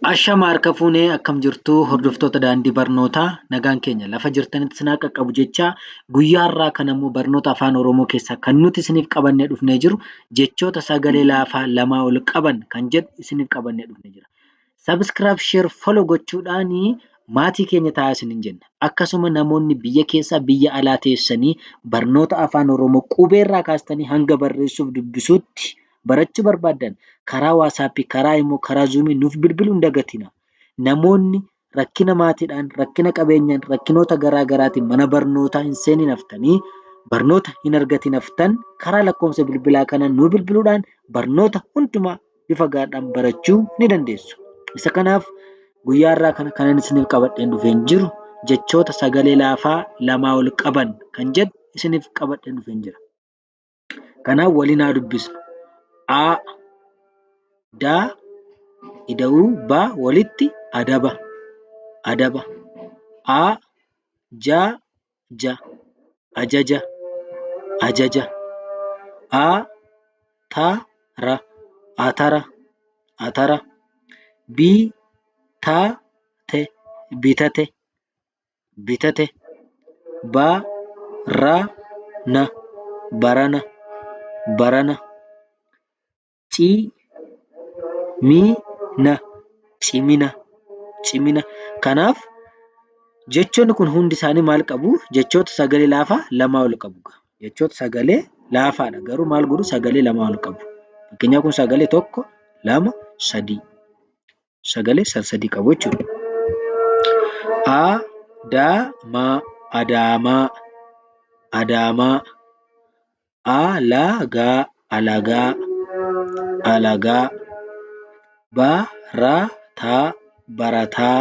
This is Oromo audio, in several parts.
Ashama harka fuunee akkam jirtuu hordoftoota daandii barnootaa nagaan keenya lafa jirtanitti sinaa qaqqabu jechaa guyyaa irraa kan ammoo barnoota afaan oromoo keessaa kan nuti isiniif qabannee dhufnee jiru jechoota sagalee laafaa lamaa ol qaban kan jedhu isiniif qabannee dhufnee jira. Sabiskiraab sheer folo gochuudhaan maatii keenya taa'aa isiniin jenna. Akkasuma namoonni biyya keessaa biyya alaa teessanii barnoota afaan oromoo qubeerraa kaastanii hanga barreessuuf dubbisuutti barachuu barbaaddan karaa WhatsApp, karaa Imo, karaa Zoom nuuf bilbiluu hin dagatinaa. Namoonni rakkina maatiidhaan, rakkina qabeenyaan, rakkinoota garaa garaatiin mana barnootaa hin seeniin haftanii barnoota hin argatiin haftan karaa lakkoofsa bilbilaa kanaan nuu bilbiluudhaan barnoota hundumaa bifa gaadhaan barachuu ni dandeessu. Isa kanaaf guyyaa irraa kana kanan isiniif qabadheen dhufeen jiru jechoota sagalee laafaa lamaa ol qaban kan jedhu isiniif qabadheen dhufeen jira. Kanaaf waliin haa dubbisnu. A. Da. Ida'uu ba walitti adaba. Adaba. A. Ja. Ja. Ajaja. Ajaja. A. Ta. Ra. Atara. Atara. B. Ta. Te. Bitate. bitate ba ra na barana barana ci mi na cimina cimina kanaaf jechoonni kun hundi isaanii maal qabu jechoota sagalee laafaa lamaa ol qabu jechoota sagalee laafaadha garuu maal godhu sagalee lamaa ol qabu fakkeenyaa kun sagalee tokko lama sadii sagalee sadii qabu jechuudha. Adaamaa, adaamaa, adaamaa. Alagaa, alagaa, alagaa. Barataa, barataa,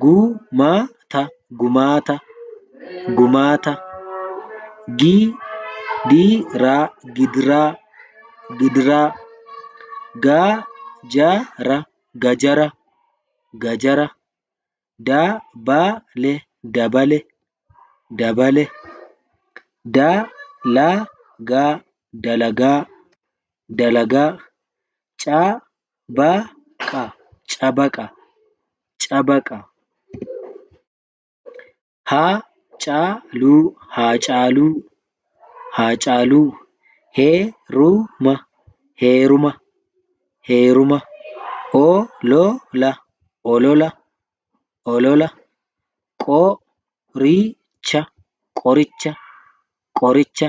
gu ma ta gumaata gumaata gi di ra gidiraa gidiraa ga ja ra gajara gajara da ba le dabale dabale da la ga dalagaa dalagaa ca cabaqa cabaqa cabaqa haacaaluu haacaaluu haacaaluu heeruma heeruma heeruma olola olola olola qoricha qoricha qoricha.